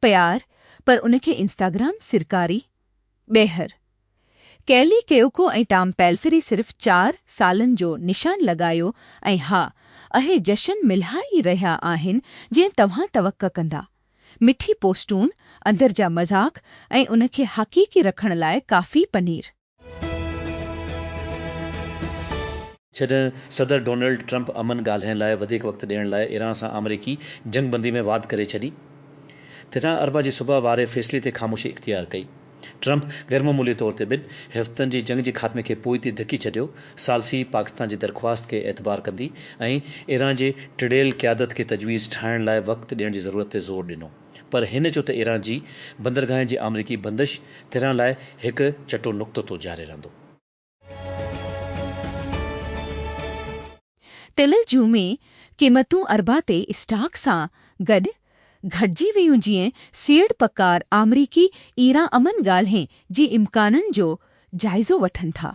پيار پر ان کي انسٽاگرام سرڪاري ٻيهر ڪيلي ڪيوڪو ۽ ٽام پيلفري صرف چار سالن جو نشان لڳايو ۽ ها اهي جشن ملها ئي رهيا آهن جئين توهان توقع ڪندا مٺي پوسٽون اندر جا مذاق ۽ ان کي حقيقي رکڻ لاء ڪافي پنير. جڏهن صدر ڊونلڊ ٽرمپ امن ڳالهائڻ لاء وڌيڪ وقت ڏيڻ لاء ايران سان آمريڪي جنگ بندي ۾ واڌ ڪري ڇڏي تڏهن اربع جي صبح واري فيصلي تي خاموشي اختيار ڪئي. ٽرمپ غيرمعمولي طور تي ٻن هفتن جي جنگ جي خاتمي کي پوئتي ڌڪي ڇڏيو، ثالثي پاڪستان جي درخواست کي اعتبار ڪندي ۽ ايران جي ٽڙيل قيادت کي تجويز ٺاهڻ لاء وقت ڏيڻ جي ضرورت تي زور ڏنو. پر هن چيو ته ايران جي بندرگاهن جي آمريڪي بندش تهران لاء هڪ چٽو نقطو تو جاري رهندو. تيل جون ۾ قيمتون اربع تي اسٽاڪ سان گڏ گهٽجي ويون جيئن سيڙ پڪار آمريڪي ايران امن ڳالهين جي امڪانن جو جائزو وٺن ٿا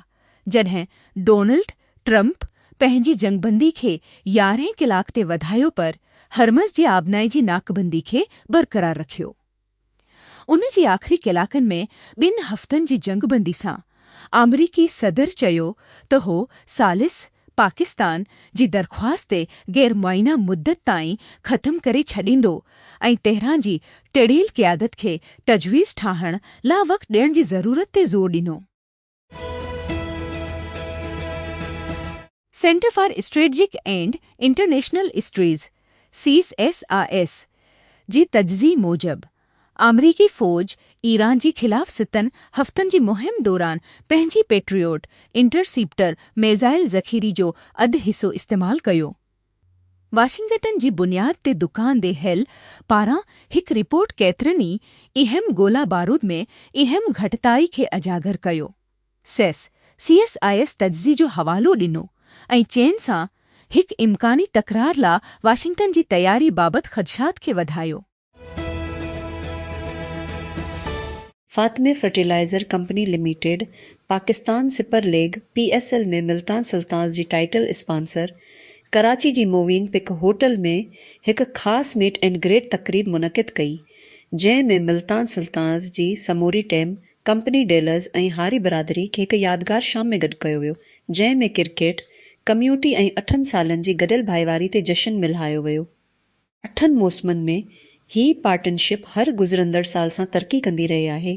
جڏهن ڊونلڊ ٽرمپ پنهنجي جنگبندي کي يارهين ڪلاڪ تي وڌايو پر هرمز جي آبنائي جي ناڪبندي کي برقرار رکيو. ان جي آخري ڪلاڪن ۾ ٻن هفتن جي جنگبندي سان آمريڪي صدر چيو ته هو ثالث پاڪستان جي درخواست تي غير معينه مدت تائين ختم ڪري ڇڏيندو ۽ تهران جي ٽڙيل قيادت کي تجويز ٺاهڻ لا وقت ڏيڻ جي ضرورت تي زور ڏنو. Centre for strategic and international studies, C S I S, جي تجزئي موجب، آمريڪي فوج ايران جي خلاف ستن هفتن جي مهم دوران پنهنجي پيٽريوٽ انٽرسيپٽر ميزائل ذخيري جو اڌ حصو استعمال ڪيو. واشنگٽن جي بنياد تي دڪان دي هيل پاران هڪ رپورٽ ڪيترن ئي اهم گولا بارود ۾ اهم گهٽتائي کي اجاگر ڪيو. سيس، CSIS، تجزي جو حوالو ڏنو ۽ چين سان هڪ امڪاني تڪرار لا واشنگٽن جي تياري بابت خدشات کي وڌايو. Fatima fertilizer company limited Pakistan super league, P S L, ۾ Multan Sultans جي ٽائيٽل اسپانسر ڪراچي جي مووين پڪ هوٽل ۾ هڪ خاص ميٽ اينڊ گريٽ تقريب منعقد ڪئي جنهن ۾ ملتان سلطانز جي سموري ٽيم، ڪمپني ڊيلرز ۽ هاري برادري کي هڪ يادگار شام ۾ گڏ ڪيو ويو جنهن ۾ ڪرڪيٽ، ڪميوٽي ۽ اٺن سالن جي گڏيل ڀائيواري تي جشن ملهايو ويو. اٺن موسمن ۾ هي پارٽنرشپ هر گذرندڙ سال سان ترقي ڪندي رهي آهي.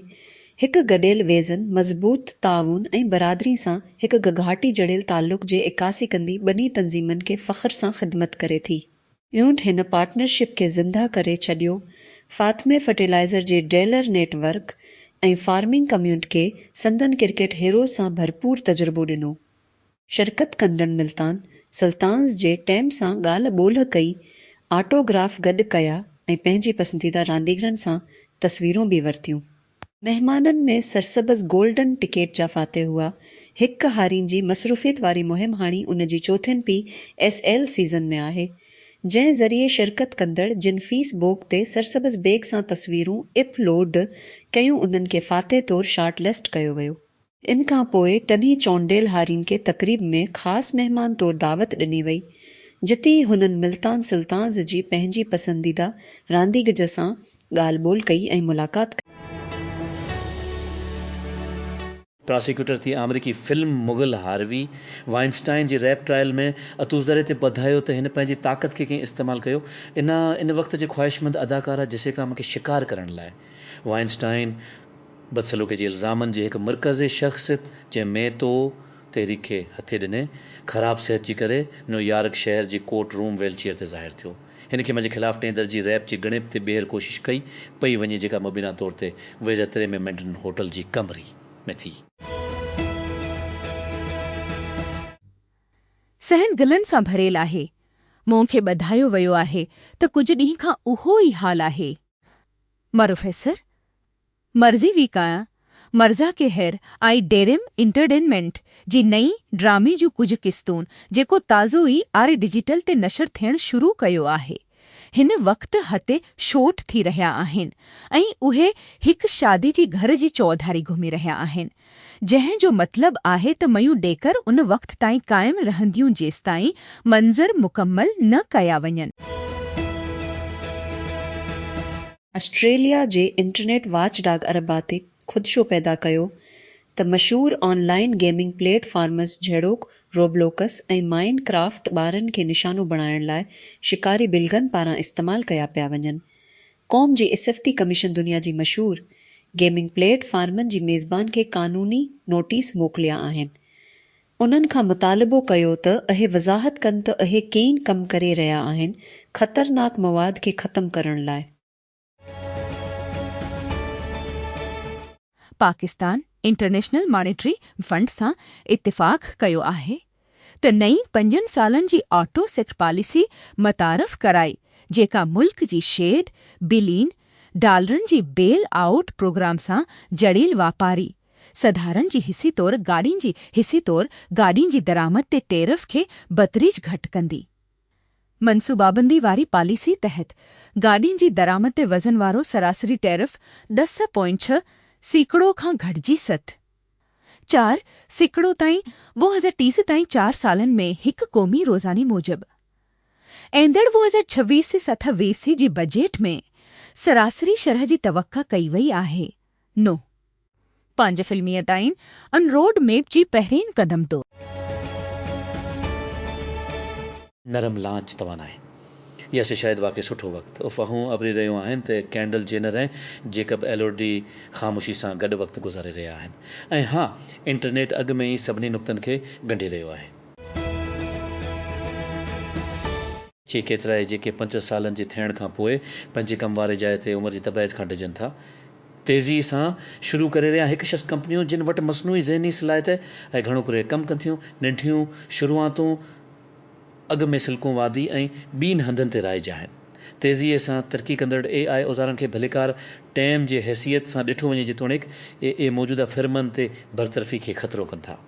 هڪ گڏيل ويزن، مضبوط تعاون ۽ برادري سان هڪ گگهاٽي جڙيل تعلق جي عڪاسي ڪندي ٻنهي تنظيمن کي فخر سان خدمت ڪري ٿي. ايونٽ هن پارٽنرشپ کي زنده ڪري ڇڏيو، فاطمي فرٽيلائزر جي dealer network ۽ farming community کي سندن ڪرڪيٽ هيروز سان ڀرپور تجربو ڏنو. شرڪت ڪندڙن ملتان سلطانز جي ٽيم سان ڳالهه ٻولهه ڪئي، آٽو گراف گڏ ڪيا ۽ پنهنجي پسنديده رانديگرن سان تصويرون به ورتيون. مهمانن ۾ سرسبز گولڊن ٽڪيٽ جا فاتح هئا. هڪ هارين جي مصروفيت واري مهم هاڻي ان جي چوٿين پي ايس ايل سيزن ۾ آهي، جنهن ذريعي شرڪت ڪندڙ جن فيس بوڪ تي سرسبز بيگ سان تصويرون اپ لوڊ ڪيون انهن کي فاتح طور شارٽ لسٽ ڪيو ويو. ان کان پوء ٽنهي چونڊيل هارين کي تقريب ۾ خاص مهمان طور دعوت ڏني وئي، جتي ئي هنن ملتان سلطانز جي پنهنجي پسنديده رانديگج سان ڳالهه ٻولهه ڪئي ۽ ملاقات ڪئي. پراسيڪيوٽر ٿي آمريڪي فلم مغل هاروي وائنسٽائن جي ريپ ٽرائل ۾ اتوزري تي ٻڌايو ته هن پنهنجي طاقت کي ڪئين استعمال ڪيو ان ان وقت جي خواهشمند اداڪارا جسيڪا مڪي شڪار ڪرڻ لاء وائنسٽائن بدسلوڪي جي الزامن جي هڪ مرڪزي شخص جنهن ميتو تحريڪ کي هٿي ڏني، خراب صحت جي ڪري نيو يارڪ شهر جي ڪورٽ روم ويل چيئر تي ظاهر ٿيو. هن کي منهنجي خلاف ٽئين درجي ريپ جي ڳڻپ تي ٻيهر ڪوشش ڪئي پئي وڃي جيڪا مبينا طور تي ويزا تري ۾ مينڊرن هوٽل جي ڪمري ۾ ٿي. صحن گلن سان ڀريل آهي. مون کي ٻڌايو ويو آهي ته ڪجهه ڏينهن کان اهو ئي حال آهي. مروفيسر مرضي وي ڪايان مرضا ڪي هير آئي ڊيريم انٽرڊينمينٽ جي نئين ڊرامي جون ڪجهه قسطون جيڪو تازو ئي آر ڊجيٽل تي نشر ٿيڻ شروع ڪيو آهي هن وقت هتي شوٽ ٿي رهيا آهن ۽ اهي هڪ شادي جي گهر جي چوڌاري گهمي رهيا آهن جنهن جو مطلب آهي ته ميون ڏيڪر ان وقت تائين قائم رهنديون جيستائين منظر مڪمل نه ڪيا وڃن. آسٽريليا جي انٽرنيٽ واچ ڊاگ ارباتيڪ خدشو پيدا ڪيو ته مشهور online gaming platforms جهڙوڪ روبلوڪس ۽ مائن ڪرافٽ ٻارن کي نشانو بڻائڻ لاء شڪاري بلغن پاران استعمال ڪيا پيا وڃن. قوم جي اسفتي ڪميشن دنيا جي مشهور گيمنگ پليٽ فارمن جي ميزبان کي قانوني نوٽيس موڪليا آهن انهن کان مطالبو ڪيو ته اهي وضاحت ڪن ته اهي ڪين ڪم ڪري رهيا آهن خطرناڪ مواد کي ختم ڪرڻ لاء. پاڪستان انٽرنيشنل مانيٽري فنڊ سان اتفاق ڪيو آهي ته نئين پنجن سالن جي آٽو سيڪٽر پاليسي متعارف ڪرائي جيڪا ملڪ جي شيڊ بلين ڊالرن جي بيل آئوٽ پروگرام سان جڙيل واپاري سڌارن جي حصي طور گاڏين جي حصي طور گاڏين جي درآمد تي ٽيرف کي بتريج گهٽ ڪندي. منصوبابندي واري پاليسي تحت گاڏين جي درآمد تي وزن وارو سراسري ٽيرف ڏس پوائنٽ ڇهه سيڪڙو کان گهٽجي ست. چار سيڪڙو تائين ٻه هزار ٽيس تائين چار سالن ۾ هڪ قومي روزاني موجب ايندڙ ٻه هزار ڇويهه سٿ ويسي جي بجيٽ ۾ سراسري شرح جي توقع ڪئي وئي آهي. نو. پنج فلميء تائين ان روڊ ميپ جي پهرين قدم تو. نرم لانچ توانائي يا سي شايد واقعي سٺو وقت افواهون اڀري رهيون آهن ته ڪينڊل جينر ۽ جيڪب ايلورڊي خاموشي سان گڏ وقت گذاري رهيا آهن ۽ ها انٽرنيٽ اڳ ۾ ئي سڀني نقطن کي ڳنڍي رهيو آهي. چي ڪيترائي جيڪي پنج سالن جي ٿيڻ کان پوء پنهنجي ڪم واري جاء تي عمر جي تبعيض کان ڊڄن ٿا تيزي سان شروع ڪري رهيا هڪ شخص ڪمپنيون جن وٽ مصنوعي ذهني صلاحيت ۽ گهڻو ڪري ڪم ڪن ٿيون ننڍيون شروعاتون اڳ ۾ سلڪون وادي ۽ ٻين هنڌن تي رائج آهن تيزي سان ترقي ڪندڙ اي آء اوزارن کي ڀليڪار ٽيم جي حيثيت سان ڏٺو وڃي جيتوڻيڪ اي اي موجوده فرمن تي برطرفي کي خطرو ڪن ٿا.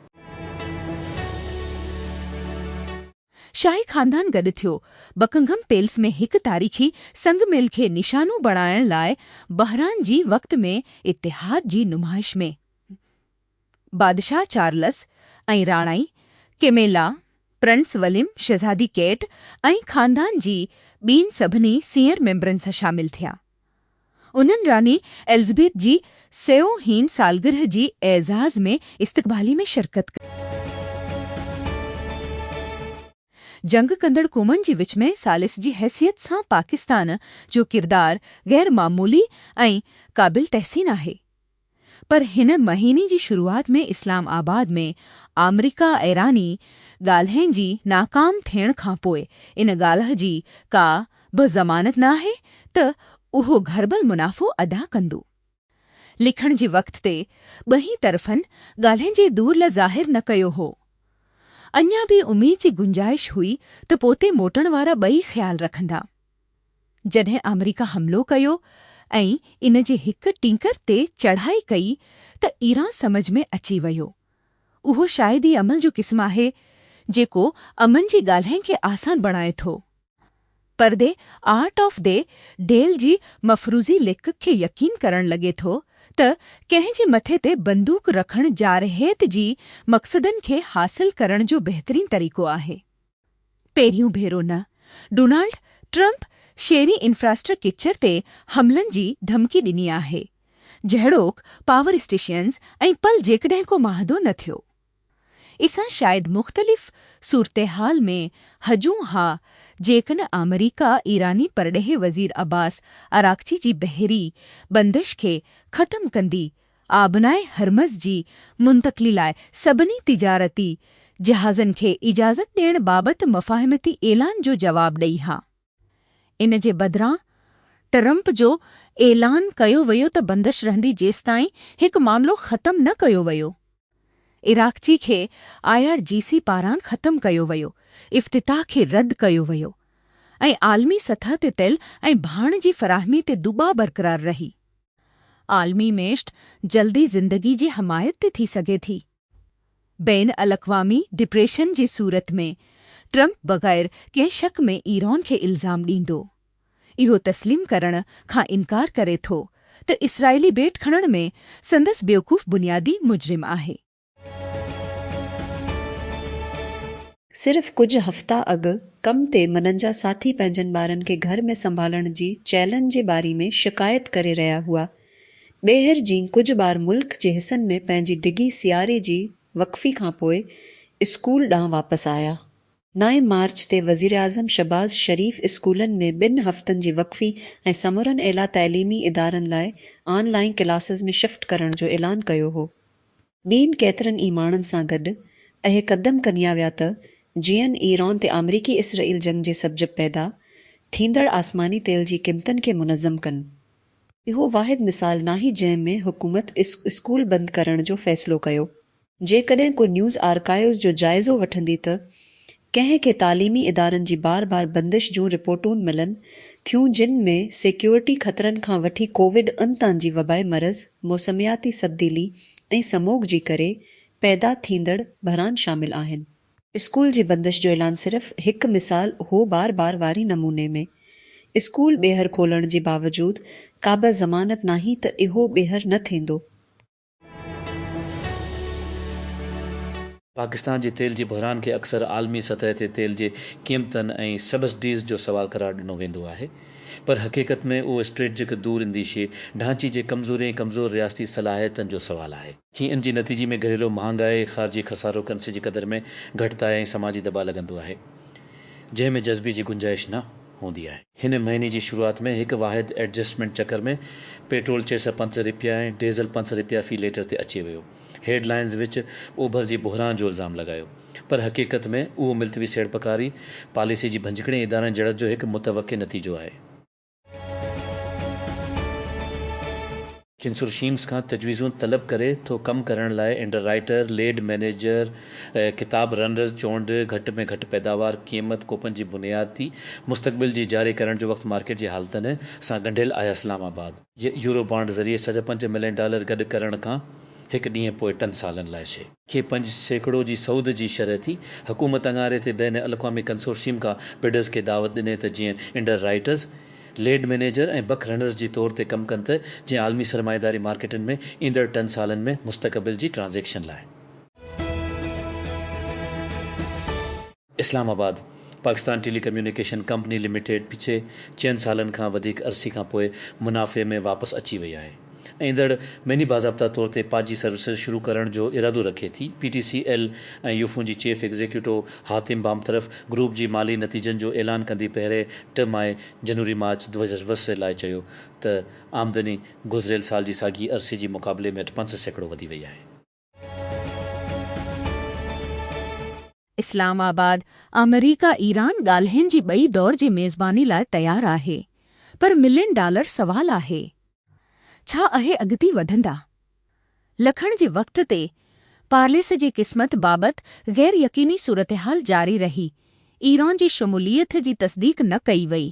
شاهي خاندان گڏ ٿيو. بڪنگهم پيلس ۾ هڪ تاريخي سنگ ميل کي نشانو بڻائڻ لاء بحران جي وقت ۾ اتحاد جي نمائش ۾ بادشاهه چارلس ۽ راڻائي ڪيميلا، پرنس وليم، شهزادي ڪيٽ ۽ خاندان جي ٻين سڀني سينئر ميمبرن سان شامل ٿيا. انهن راڻي ايلزبيٿ جي سيون هين سالگرهه جي اعزاز ۾ استقبالي ۾ شرڪت ڪئي. جنگ ڪندڙ قومن جي وچ ۾ ثالث جي حيثيت سان پاڪستان جو ڪردار غير معمولي ۽ قابل تحسين آهي. پر هن مهيني جي شروعات ۾ اسلام آباد ۾ آمريڪا ايراني ڳالهين جي ناڪام ٿيڻ کانپوء ان ڳالهه جي ڪا به ضمانت نه آهي ته اهو گهربل منافعو ادا ڪندو. لکڻ جي وقت تي ٻنهي طرفن ڳالهين جي دور لا ظاهر نه ڪيو هو. اڃا به اميد جي گنجائش هئي ته پوتي موٽڻ وارا ٻئي خيال رکندا. جڏهن آمريڪا حملو ڪيو ۽ ان جي هڪ ٽينڪر تي چڙهائي ڪئي ته ايران سمجهه ۾ اچي ويو. اهو شايد ئي عمل جو قسم آهي جيڪو امن جي ڳالهين کي آسان بڻائي ٿو. پر the art of the deal جي مفروضي ليکڪ کي يقين ڪرڻ لڳي ٿو ته ڪنهن جي مٿي تي بندوق رکڻ جارحيت جي مقصدن کي حاصل ڪرڻ جو بهترين طريقو آهي. پهريون ڀيرو نه، ڊونالڊ ٽرمپ شيري انفراسٽرڪيچر تي حملن جي ڌمڪي ڏني آهي، جهڙوڪ پاور اسٽيشنز ۽ پل جيڪڏهن ڪو معاهدو نه ٿيو. اسان شايد مختلف صورتحال ۾ هجون ها جيڪن آمريڪا ايراني پرڏيهي وزير عباس عراقچي جي بحري بندش کي ختم ڪندي آبناء هرمز جي منتقلي لاء سڀني تجارتي جهازن کي اجازت ڏيڻ بابت مفاهمتي اعلان جو جواب ڏئي ها. ان جي بدران ٽرمپ جو اعلان ڪيو ويو ته بندش رهندي جيستائين هڪ معاملو ختم نه ڪيو ويو. عراقچي کي آء آر جي سي پاران ختم ڪيو ويو، افتتاح کي رد ڪيو ويو ۽ عالمي سطح تي تيل ۽ ڀاڻ جي فراهمي تي دٻاء برقرار رهي. عالمي ميشت جلدي زندگي جي حمايت تي ٿي سگهي ٿي. بين الاقوامي ڊپريشن جي صورت ۾ ٽرمپ بغير ڪنهن شڪ ۾ ايران کي الزام ڏيندو. اهو تسليم ڪرڻ کان انڪار ڪري ٿو ته اسرائيلي ٻيٽ کڻڻ ۾ سندس بيوقوف بنيادي مجرم آهي. صرف ڪجهه هفتا اڳ ڪم تي منهن جا ساٿي پنهنجن ٻارن کي گهر ۾ سنڀالڻ جي چئلنج جي باري ۾ شڪايت ڪري رهيا هئا. ٻيهر جي ڪجهه ٻار ملڪ جي حصن ۾ پنهنجي ڊگهي سياري جي وقفي کانپوء اسڪول ڏانهن واپس آيا نائين مارچ تي وزيراعظم شھباز شريف اسڪولن ۾ ٻن ھفتن جي وقفي ۽ سمورن اعليٰ تعليمي ادارن لاء آن لائين ڪلاسز ۾ شفٽ ڪرڻ جو اعلان ڪيو ھو. ٻين ڪيترن ئي ماڻھن سان گڏ اھي قدم کنيا ويا ته جيئن ايران تي آمريڪي اسرائيل جنگ جي سبجب پيدا ٿيندڙ آسماني تيل جي قيمتن کي منظم ڪن. اھو واحد مثال ناھي جنھن ۾ حڪومت اسڪول بند ڪرڻ جو فيصلو ڪيو. جيڪڏهن ڪو نيوز آرڪائيوز جو جائزو وٺندي ته ڪنهن کي تعليمي ادارن جي بار بار بندش جون رپورٽون ملن ٿيون جن ۾ سيڪيورٽي خطرن کان وٺي ڪووڊ ان تان جي وبائي مرض، موسمياتي سبديلي ۽ سموگ جي ڪري پيدا ٿيندڙ بحران شامل آهن. اسڪول جي بندش جو اعلان صرف هڪ مثال هو بار بار واري نموني ۾ اسڪول ٻيهر کولڻ جي باوجود ڪابه ضمانت ناهي ته اهو ٻيهر نه ٿيندو. پاڪستان جي تيل جي بحران کي اڪثر عالمي سطح تي تيل جي قيمتن ۽ سبسڊيز جو سوال قرار ڏنو ويندو آهي پر حقيقت ۾ اهو اسٽريٽجڪ دور انديشي ڍانچي جي ڪمزوري ۽ ڪمزور رياستي صلاحيتن جو سوال آهي، جنهن جي نتيجي ۾ گهريلو مهانگائي، خارجي خسارو، ڪرنسي جي قدر ۾ گهٽتائي ۽ سماجي دٻاء لڳندو آهي، جنهن ۾ جذبي جي گنجائش نه. هوندي آهي. هن مهيني جي شروعات ۾ هڪ واحد ايڊجسٽمينٽ چڪر ۾ پيٽرول چئي سئو پنج رپيا ۽ ڊيزل پنج سئو رپيا في ليٽر تي اچي ويو. هيڊ لائنز وچ اوڀر جي بحران جو الزام لڳايو پر حقيقت ۾ اهو ملتوي سيڙپڪاري پاليسي جي ڀڃڪڙين ادارن جڙت جو هڪ متوقع نتيجو آهي. ڪنسورشيمز کان تجويزون طلب ڪري ٿو ڪم ڪرڻ لاء انڊر رائيٽر، ليڊ مئنيجر، ڪتاب رنرز، چونڊ، گهٽ ۾ گهٽ پيداوار، قيمت، ڪوپن جي بنياد تي مستقبل جي جاري ڪرڻ جو وقت مارڪيٽ جي حالتن سان ڳنڍيل آهي اسلام آباد. يورو بانڊ ذريعي سڌ پنج ملين ڊالر گڏ ڪرڻ کان هڪ ڏينهن پوء ٽن سالن لاء شي. کي پنج سيڪڙو جي سود جي شرح ٿي، حڪومت اڱاري تي بين الاقوامي ڪنسورشيم کان بڊرز کي دعوت ڏني ته جيئن underwriters, lead manager ۽ bookrunners جي طور تي ڪم ڪن ته جيئن عالمي سرمائيداري مارڪيٽن ۾ ايندڙ ٽن سالن ۾ مستقبل جي ٽرانزيڪشن لاء. Islamabad, Pakistan telecommunication company limited پڇي چئن سالن کان وڌيڪ عرصي کان پوء منافعي ۾ واپس اچي وئي آهي. ايندڙ مھيني باضابطا طور تي پاجي سروسز شروع ڪرڻ جو ارادو رکي ٿي. P T C L ۽ Ufone جي chief executive Hatim Bamatraf group جي مالي نتيجن جو اعلان ڪندي پهرين ٽه ماء جنوري مارچ دو هزار ويهه لاء چيو ته آمدني گذريل سال جي ساڳي عرصي جي مقابلي ۾ اٺ پنج سيڪڙو وڌي وئي آهي. اسلام آباد، آمريڪا ايران ڳالهين جي ٻئي دور جي ميزباني لاء تيار آهي پر ملين ڊالر سوال آهي ڇا اهي اڳتي وڌندا؟ لکڻ جي وقت تي پارليس جي قسمت بابت غير يقيني صورتحال جاري رهي، ايران جي شموليت جي تصديق نه ڪئي وئي.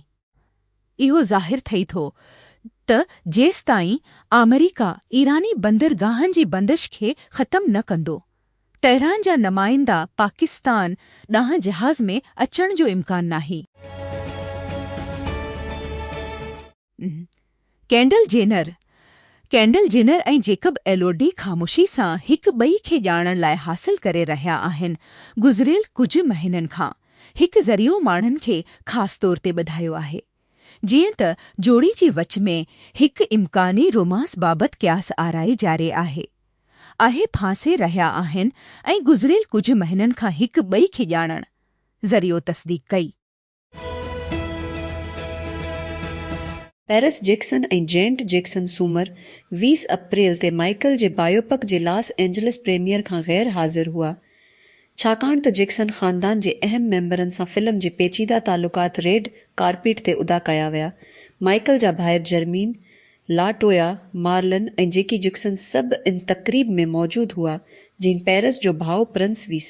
اهو ظاهر ٿئي ٿو ته جيستائين آمريڪا ايراني بندرگاهن جي بندش کي ختم نه ڪندو، تهران جا نمائندا پاڪستان ڏانهن جهاز ۾ اچڻ جو امڪان ناهي. Kendall Jenner, Kendall Jenner، ۽ Jacob Elordi خاموشي سان هڪ ٻئي کي ڄاڻڻ لاء حاصل ڪري رهيا آهن، گذريل ڪجهه مهينن کان. هڪ ذريعو ماڻهن کي خاص طور تي ٻڌايو آهي. جيئن ته جوڙي جي وچ ۾ هڪ امڪاني رومانس بابت قياس آرائي جاري آهي. اهي ڦاسي رهيا آهن ۽ گذريل ڪجهه مهينن کان هڪ ٻئي کي ڄاڻڻ، ذريعو تصديق ڪئي. پيرس جيڪسن ۽ جينٽ جيڪسن سومر ويهه اپريل تي مائيڪل جي بايوپڪ جي لاس اينجلس پريميئر کان غير حاضر هئا ڇاڪاڻ ته جيڪسن خاندان جي اهم ميمبرن سان فلم جي پيچيده تعلقات ريڊ ڪارپيٽ تي ادا ڪيا ويا مائيڪل جا ڀائر جرمين لا ٽويا مارلن ۽ جيڪي جيڪسن سڀ ان تقريب ۾ موجود هئا جين پيرس جو ڀاء پرنس ويس